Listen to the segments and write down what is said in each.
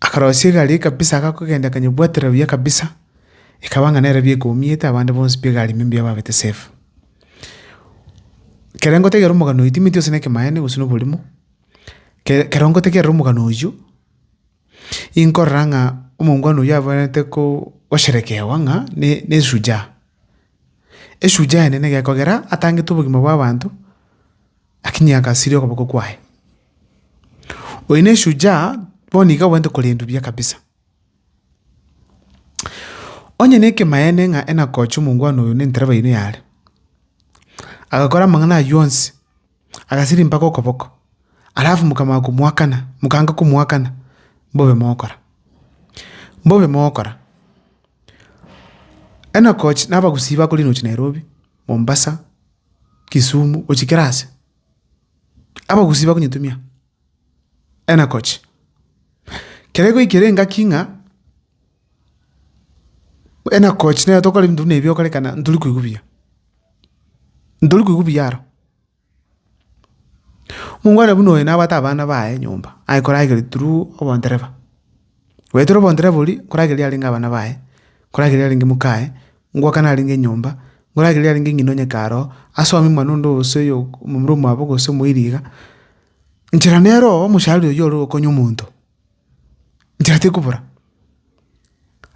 Akarosia egari kabisa agakogenda akanyebwatera buya kabisa, ekaba ng'a nere bieka omiete abande bonsi pi egari ime mbuya babete safe. Kere ngotegerera omogano oyo timanyeti gose nekemaene gose noborimo, kere kero ngotegerera omogano oyio, inkorora ng'a omongwana oyio abwenerete ko gosherekewa ng'a ne ne shujaa. Eshujaa enene egekogera atangete obogima bwa abanto, lakini agasiria okoboko kwaye. Oyo ne shujaa bono iga obwenerete korendwa buya kabisa. Onye nekemayene ng'a Enakoch omongwana oyo nentereba yaino yare, agakora amang'ana aywo yonsi, agasiria mpaka okoboko, alafu mokamanya komoakana, mokanga komoakana, mbobe mogokora. Mbobe mogokora. Enakoch na abagusii bakore inwe gochia Nairobi, Mombasa, Kisumu, gochia kera ase. Abagusii bakonyetumia enakochi, kere goikera engaki ng'a enakochi nere tokore ebinto buna ebi okorekana ntori koigwa buya, ntori koigwa buya aro. Mokwana buna oyo nabwate abana baye nyomba, aye koragera through obodereba. Goetera obontere bori, nkoragereria arenge abana baye, nkoragereria arenge mokaye, ngoakana arenge enyomba, nkoragereria arenge ng'ina o nyakare oo, asome omwana onde gose oyo momura omwabo gose omoiri iga, nchera nere oo omochari oyio ore gokonya omonto, nchera tekobora.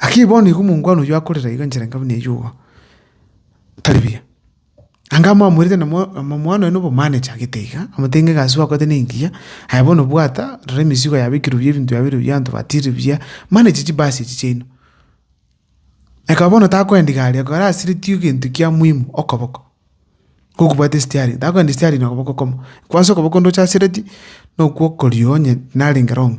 Lakini bono igo omongwana oyio akorera iga nchera nkabe neyuo igo, tari buya. Anga mwamoirete na Omwana oye nobomani echagete iga, omotenge gasi gwakorete nengiya, aye bono bwata, rora emesigo yabekirwe buya ebinto biabeirwe buya abanto batiirire buya, mane echi chibasi echi chiaino. Ekaba bono takoenda igari, ekaba arasiretie egento kia muhimu, okoboko, kogobwata esteering, takoenda esteering nokoboko okomo, kwansa okoboko onde ochasiretie, nokwo okorio onye narenge wrong.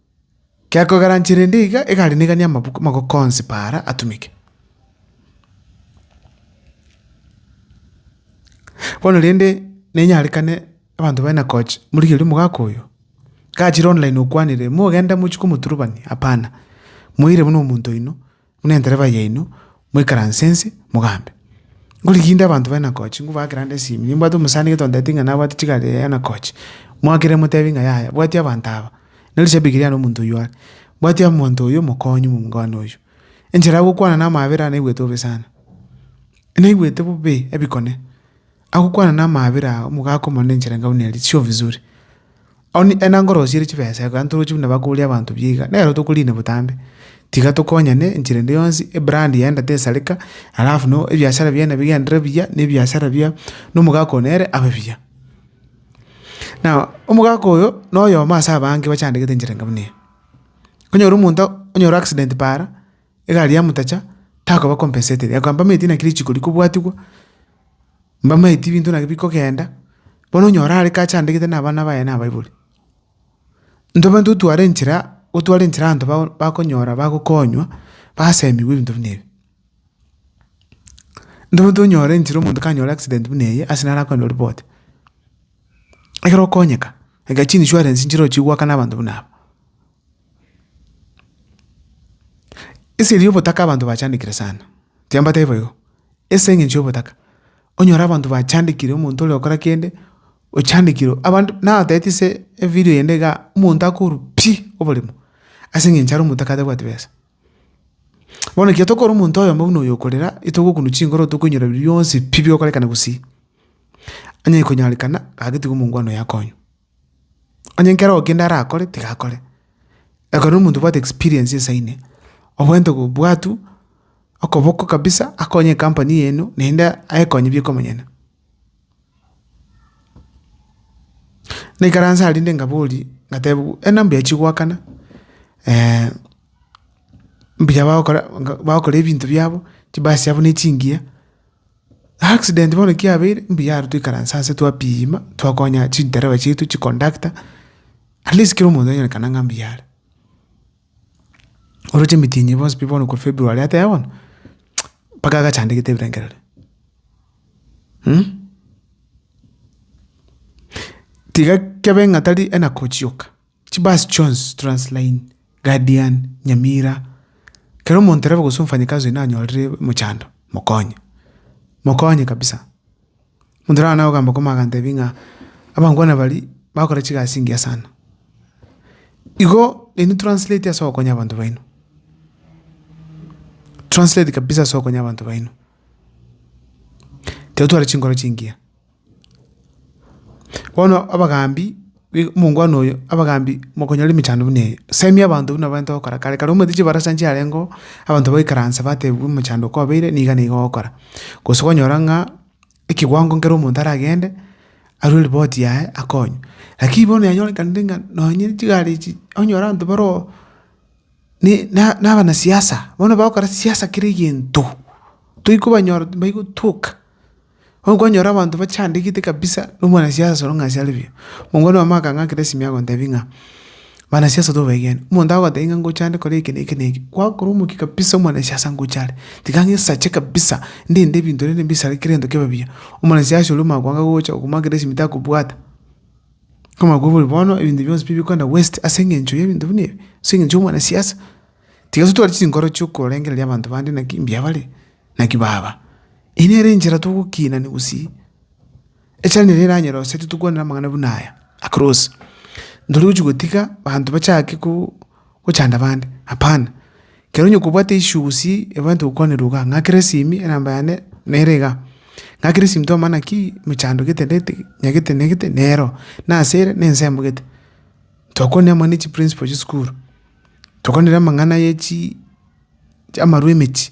Gekogaranchera ende iga egari niga ni'amabuku amagoko onsi paara atumeke. Bono rende nenyarekane abanto baye na coach morigereria omogaka oyo. Gachire online okwanire, mogende mochie komoturubania hapana. Moire buna omonto oino. buna entereba yaino, moikaranse inse, mogambe. Ngorigia inde abanto b'enakochi, ngobaa kera onde esimi. Nimbwate omosani getonteti ng'a nabwate chigari ya enakochi, moakera emotebi ng'a yaya, bwati abanto aba, ne rishabiki riane omonto oyio are, bwati omonto oyio omokonyi omongwana oyio. Enchera ya gokwana na amaabera naigwete bobe sana. Naigwete bobe ebikone. Agokwana namaabera aa, omogaka omonene enchera enga buna eria, chio vizuri. Onye ena ngorosiere chibesa iga, ntoroche buna bakoria abanto buya iga, nero tokorina botambe. Tiga tokonyane enchera ende yonsi, ebrand yaenda tesareka, alafu no ebiashara biane bigenderere buya, ne ebiashara bia nomogaka one ere abe buya. Now, omogaka oyo, na oyomo ase abange bachandegete enchera enga buna eye. Onyore omonto, onyore accident paara, egari yamotacha, takoba compensated, yakoa mpameti naki richiiko rikobwatigwa. mbamaeti ebinto nabio bikogenda, bono onye ore are kache andegete na abana baye nabaibori. Ntobwenerete gotwara enchera, gotwara enchera abanto bao bakonyora bagokonywa, basemigwe ebinto buna ebi. Ntobwenerete onyore enchera omonto kanyore accident buna eye ase naro akonywa oripoti. Ekero okonyeka, iga chinsurance nchirochia goakana abanto buna aba. Eseri y'obotaka abanto bachandekire sana, tiambatebi boigo? Ase eng'encho y'obotaka, onyore abanto bachandekire omonto ore gokora kende, ochandekirwe abanto natebeti ase evidio yende igaa, omonto akorwa pi! oboremo, ase eng'encho are omotaka atabwati besa. Bono ekero tokora omonto oyomo buna oyo okorera, etogokunwa chingoro tokoinyora bionsi pi! bigokorekana gusii. Onye konyarekana, gaki tiga omongwana oyo akonywe. Onye nkero kende arakore, tiga akore. Ekero na omonto obwate experience ense ime, obwenerete kobua tu okoboko kabisa akonye ecompany eeno naende aekonye bie komonyene. Naikaranse aria rinde nkaboria, nkatebiwa e nambuya chigoakana mbuya bagokora bagokora ebinto biabo, chibasi chiabo ne chingiya. Accident bono ki yabeire, mbuya aro toikaranse ase twapima, twakonya chindereba chiaito, chiconductor, at least kera omonto anyorekane ng'a mbuya are. Oroche emitinyi bonsi pi bono korwa February ateba bono, mpaka agachandegete ebirengerero. Tiga kebe ng'a tari enakochioka. Chibasi chionsi, Transline, Guardian, Nyamira, Kera omontereba gose omfanyikazi oino anyorire mochando, mokonye. Mokonye kabisa. Omonto naro nagogamba koma agantebi ng'a abangwana baria bagokora chigasi engiya sana. Igo nainwe translate ase ogokonya abanto baino. Translate kabisa ase ogokonya abanto baino. Totware chinkoro chingiya. Bono abagaambi big omongwana oyo, abagaambi mokonyora emechando buna eye, semi abanto buna baete gokora kare kare omanyete chibarasa nchiarengeo, abanto baikaranse batebwa omochando oko kwabeire niga niga ogokora. Gose kwanyora ng'a ekewango nkere omonto aragende, arwe ripoti yaye akonywe. Lakini bono yanyorekanire ng'a nonye chigari echi, onyore abanto bare oo ne na na abanasiasa, bono bagokora siasa kera egento, toigokobanyora timbaigotwoka. Onkonyora abanto bachandegete kabisa na omwanasiasa soro ng'a ase are buya. Mokoro oyomo akang'akera esimi agontebia ng'a, Mwanasiasa tobaegene, omonto agotebia ng'a ngocha ande kore eke na eke na eke, gwakora omokia kabisa omwanasiasa ngocha are, tiga ng'a esache kabisa, ndinde ebinto bire mbisae kera egento kebe buya. Omwanasiasa oria omanye koanga gocha okomoakera esimi takobwata. Komanya koba ore bono ebinto bionsi pi bikogenda waste ase eng'encho y'ebinto buna ebi, ase eng'encho y'omwanasiasa. Tiga totware chinkoro chia okorengereria abanto bande naki mbuya bare. Naki, Baba, eye nere enchera togokiinania gosii, echara nere eranyare gose titokwanera amang'ana buna aya akare onsi, ntari gochia gotiga abanto bachake gochanda abande, hapana, ekero onye kobwate issue gosii ebwenerete gokwanerwa igaa, ng'akere esimi enamba yane nere igaa, ng'akere esimi twamanya naki emechando gete na gete, ng'a gete na gete nero, nase ere na ensemo gete, twakwanire amang'ana ya chiprinciple chia esukuru, twakwanire amang'ana ya chii amarwa ya emechie.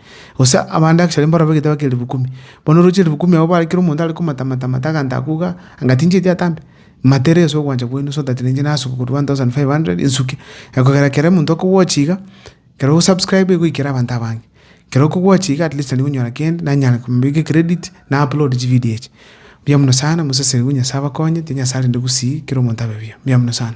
Gose abande achare mborobera egetebe kia ribu kumi, bono oroche ribu kumi abwo bare kera omonto are komata mata mata aganto akoiga iga, anga tincheti atambe? Mata ere ase ogwancha kwaino so that ninche nasuke korwa one thousand five hundred nsuke. Ekogera kere omonto okogwochi iga, kero osubscribe goikera abanto abange. Kero okogwochi iga at least nari gonyora kende, nanyare komobeka ecredit, na upload chividio echi. Mbuya mono sana, mosesenigwe Nyasae abakonye, tindi Nyasae arinde gusii, kera omonto abe buya. Mbuya mono sana.